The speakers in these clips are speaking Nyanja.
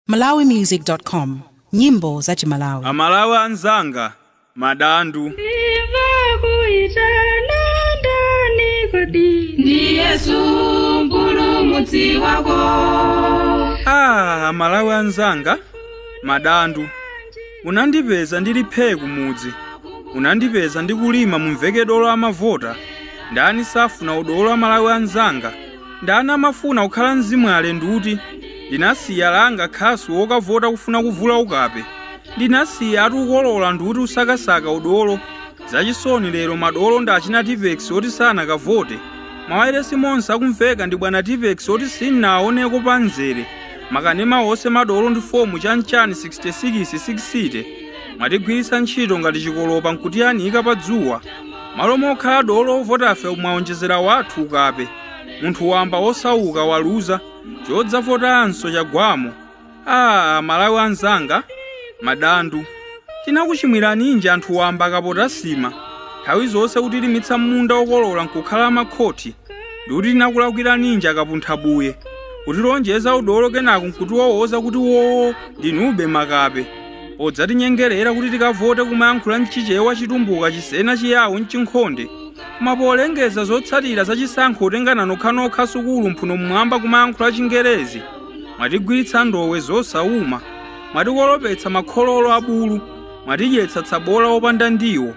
malawimusic.com nyimbo za chimalawi amalawi anzanga madandu Ndimva kuitana ndani kodi ndi Yesu mpulumutsi wako ah amalawi anzanga madandu unandipeza ndili phee kumudzi unandipeza ndikulima mumveke dolo amavota ndani safuna udolo amalawi anzanga Ndani amafuna kukhala mzimwale ndi uti? Ndinasiya langa khasu wokavota kufuna kuvula ukape. Ndinasiyatu ukolola ndi uti usakasaka udolo. Zachisoni lero madolo ndi achina Tipex oti sanakavote. Mawailesi monse akumveka ndi bwana Tipex oti sinnaoneko pa mzere. Makanema onse madolo ndi fomu chanchani 66 60. Mwatigwiritsa ntchito ngati chikolopa nkutiyanika pa dzuwa. Malo mokhala dolo ovotafe mwaonjezera wathu ukape. Munthu wamba wosauka waluza, chodzavotanso chagwamo. Aaa Malawi anzanga, madandu. Tinakuchimwiraninji anthu wamba akapota sima? Nthawi zonse kutilimitsa munda okolola nkukhala amakhoti. Ndikuti tinakulakwiraninji akapunthabuye? Kutilonjeza udolo kenako nkutiwowoza kuti woo ndinube makape. podzatinyengerera kuti tikavote kumayankhula mchichewa chitumbuka chisena chiyawo mchinkhonde koma polengeza zotsatira za chisankho otengana nokhanokha sukulu mphuno mmwamba kumayankhula chingerezi mwatigwiritsa ndowe zosawuma mwatikolopetsa makhololo abulu mwatidyetsa tsabola opanda ndiwo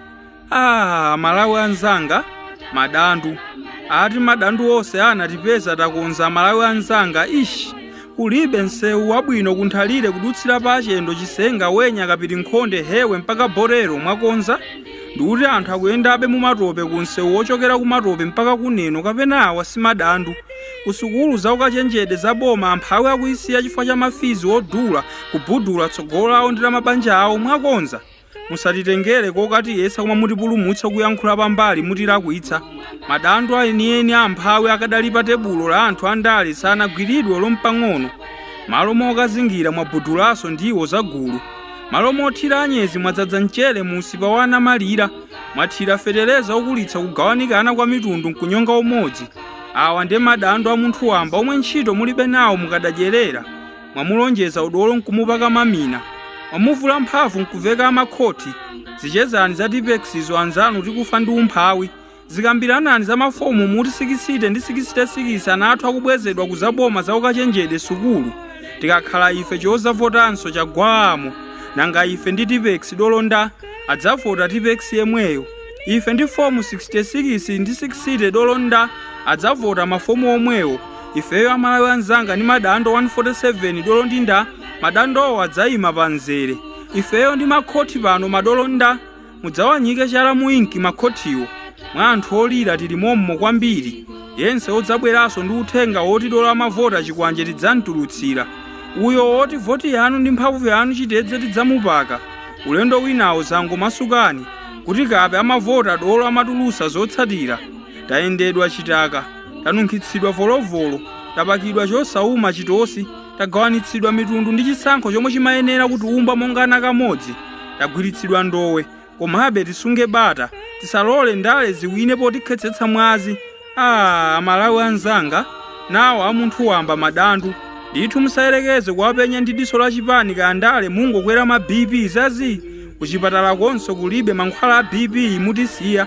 Ah, amalawi anzanga madandu ati madandu onse anatipeza takonza amalawi anzanga ish kulibe msewu wabwino kunthalire kudutsira pa chendo chisenga wenya kapirinkhonde hewe mpaka bolero mwakonza ndikuti anthu akuyendabe mumatope ku msewu wochokera kumatope mpaka kuneno kapena awa si madandu kusukulu za ukachenjede za boma amphawi akuyisiya chifukwa cha mafizi odula kubudula tsogolo lawo ndi la mabanja awo mwakonza musatitengere kokatiyesa koma mutipulumutse kuyankhula pambali mutilakwitsa madandu enieni amphawi akadali pa tebulo la anthu andale sanagwiridwe olo mpang'ono malo mokazingira mwabudulaso ndiwo zagulu malo mothira anyezi mwadzadza mchere mu usipa wa anamalira mwathira fetereza okulitsa kugawanikana kwa mitundu nkunyonga umodzi awa ndi madandu a munthu wamba omwe ntchito mulibe nawo mukadadyerera mwamulonjeza udolo nkumupaka mamina mwamuvula mphamvu nkuveka amakhoti zichezani za tipexizo anzanu tikufa ndi umphawi zikambiranani za mafomu muti sikisite ndi sikisitesikisi ana athu akubwezedwa kuzaboma za ukachenjede sukulu tikakhala ife chozavotanso chagwamo nanga ife ndi tipex dolo nda adzavota tipex yemweyo ife ndi fomu 66 ndi 60 dolo nda adzavota mafomu omwewo ifeyo amalawi anzanga ndi madando 147 dolo ndi nda madandowo adzayima pa mzere ifeyo ndi makhoti pano madolo nda mudzawanyike chala mu inki makhotiwo mwa anthu olira tili mommo kwambiri yense odzabweranso ndi uthenga woti dolo amavota chikwanje tidzamtulutsira uyo woti voti yanu ndi mphamvu yanu chitedze tidzamupaka ulendo winawo zangomasukani kuti kape amavota dolo amatulusa zotsatira tayendedwa chitaka tanunkhitsidwa volovolo tapakidwa chosauma chitosi tagawanitsidwa mitundu ndi chisankho chomwe chimayenera kutiumba monga ana kamodzi tagwiritsidwa ndowe komabe tisunge bata tisalole ndale ziwine potikhetsetsa mwazi amalawi anzanga nawo a munthu wamba madandu ndithu musayerekeze kuwapenya ndi diso la chipani kaya ndale mungokwera ma bp zazi kuchipatala konso kulibe mankhwala a bp mutisiya